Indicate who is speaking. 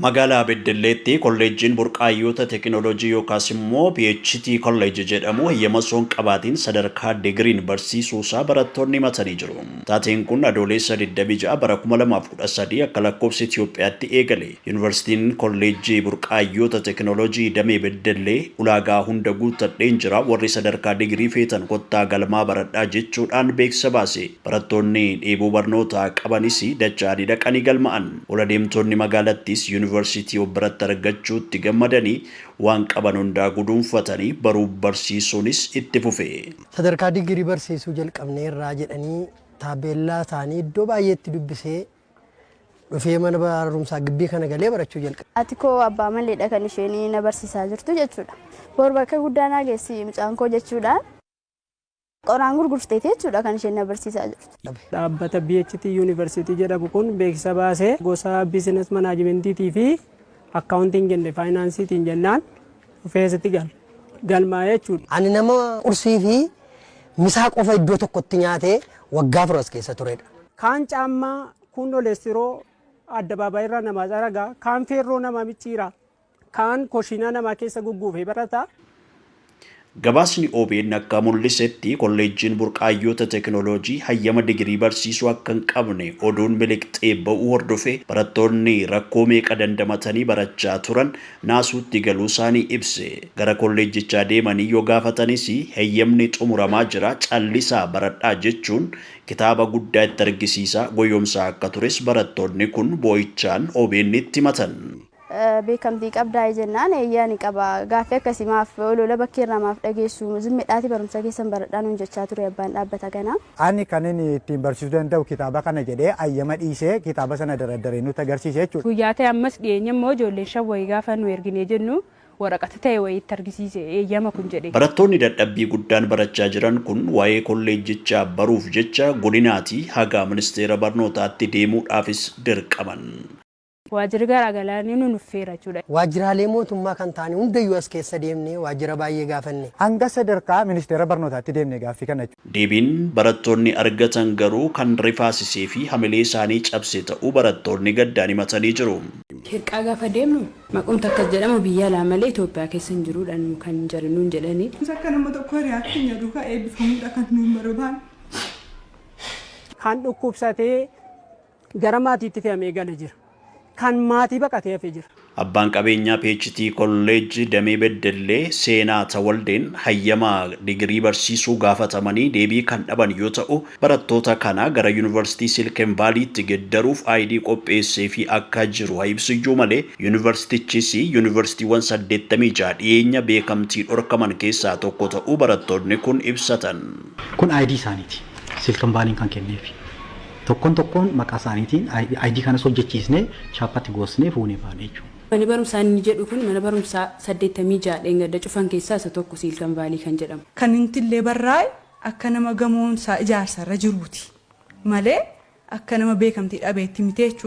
Speaker 1: Magaalaa Beddelleetti Kolleejjiin Burqaayyoota Tekinolojii yookaas immoo PHT College jedhamu heyyama osoo hin qabaatiin sadarkaa Digriin barsiisuusaa barattoonni himatanii jiru. Taateen kun Adooleessa 26 bara 2013 akka lakkoofsa Itiyoophiyaatti eegale. Yuunivarsiitiin Kolleejjii Burqaayyoota Tekinolojii Damee Beddellee ulaagaa hunda guuttadheen jira warri sadarkaa Digrii feetan kottaa galmaa baradhaa jechuudhaan beeksisa baase. Barattoonni dheebuu barnootaa qabanis dacha'anii dhaqanii galma'an. Ol adeemtoonni magaalattiis Yuunivarsiitii of biratti argachuutti gammadanii waan qaban hundaa guduunfatanii baruuf barsiisuunis itti fufe. Sadarkaa digirii
Speaker 2: barsiisuu jalqabneerraa jedhanii taabbeellaa isaanii iddoo baay'eetti dubbisee dhufee mana barumsaa gibbii kana galee barachuu jalqabe. Haati koo abbaa maleedha
Speaker 3: kan isheen na barsiisaa jirtu jechuudha. Bor bakka guddaa naa geessi mucaan koo jechuudhaan. Qoraan gurgurteeti jechuudha kan isheen na barsiisaa jirtu. Dhaabbata BHT
Speaker 4: University jedhamu kun beeksisa baase gosa business management fi accounting and finance tiin jennaan dhufee asitti galmaa'e jechuudha. Ani nama qursii
Speaker 2: fi misaa qofa iddoo tokkotti nyaatee waggaa afur as keessa turedha. Kaan caammaa,
Speaker 4: kuun dholestiroo addabaabaayirraa namaa xaragaa, kaan feerroo namaa micciira. kaan koshiinaa namaa keessa gugguufee barata.
Speaker 1: Gabaasni obn akka mul'isetti kolleejjiin burqaayyoota teekinooloojii hayyama digirii barsiisuu akka hin qabne oduun miliqxee ba'uu hordofee barattoonni rakkoo meeqa dandamatanii barachaa turan naasuutti galuusaanii ibse. Gara kolleejjichaa deemanii yoo gaafatanis heyyamni xumuramaa jira callisaa baradhaa jechuun kitaaba guddaa itti argisiisaa goyoomsaa akka tures barattoonni kun boo'ichaan OBNtti himatan. beekamtii
Speaker 3: qabdaayi jennaan eeyyee ani qaba gaaffii akkasii maaf oloola bakkee irraa maaf dhageessu zimmidhaati barumsa keessan baradhaa nuun jechaa ture abbaan dhaabbata kanaa. Ani kanin ittiin
Speaker 5: barsiisuu danda'u kitaaba kana jedhee ayyama dhiisee kitaaba sana daraddaree nutti agarsiise jechuudha. Guyyaa ta'e ammas dhiyeenya
Speaker 6: immoo ijoolleen shan wayii gaafa nu erginee jennu waraqata ta'e wayii itti argisiise eeyyama kun jedhee. Barattoonni dadhabbii
Speaker 1: guddaan barachaa jiran kun waa'ee kolleejjichaa baruuf jecha godinaatii haga ministeera barnootaatti deemuudhaafis dirqaman. Waajjirri
Speaker 6: garaa garaa ni nunuffeera jechuudha. Waajjiraalee mootummaa
Speaker 2: kan ta'an hundayyuu as keessa deemnee waajjira baay'ee gaafanne. Hanga sadarkaa
Speaker 5: ministeera barnootaatti deemne gaaffii kana. Deebiin barattoonni
Speaker 1: argatan garuu kan rifaasisee fi hamilee isaanii cabse ta'uu barattoonni gaddaan himatanii jiru. Hirqaa gaafa
Speaker 6: deemnu maqumti akkas jedhamu biyya alaa malee Itoophiyaa keessa hin jiru dha nu kan jedhu nuun jedhani. Nus akka nama tokkoo hiriyaa
Speaker 7: keenya duukaa eebbifamuu dha kan nuun barbaannu.
Speaker 4: Kan dhukkubsatee Gara maatiitti fe'amee gale jira. Kan maatii baqatee hafe jira. Abbaan qabeenyaa
Speaker 1: PHT College Damee Beddellee Seenaa Tawaldeen hayyama digirii barsiisuu gaafatamanii deebii kan dhaban yoo ta'u, barattoota kana gara Yuunivarsiitii Silken Vaaliitti geddaruuf ID qopheesseefii akka jiru ha ibsuyyuu malee Yuunivarsiitichis Yuunivarsiitiiwwan 86 dhiyeenya beekamtii dhorkaman keessaa tokko ta'uu barattoonni kun ibsatan. Kun ID
Speaker 8: isaaniiti. Silken Vaaliin kan kenneefi. Tokkon tokkoon maqaa isaaniitiin ID kanas hojjechiisnee chaappatti goosnee fuunee baane jechuudha. Mani barumsaa inni jedhu
Speaker 6: kun mana barumsaa 86 dheengadda cufan keessaa isa tokko Siilkan Vaalii kan jedhamu. Kan inti illee barraa'e
Speaker 7: akka nama gamoon isaa ijaarsa irra jiruuti malee akka nama beekamtii dhabeetti miti jechuudha.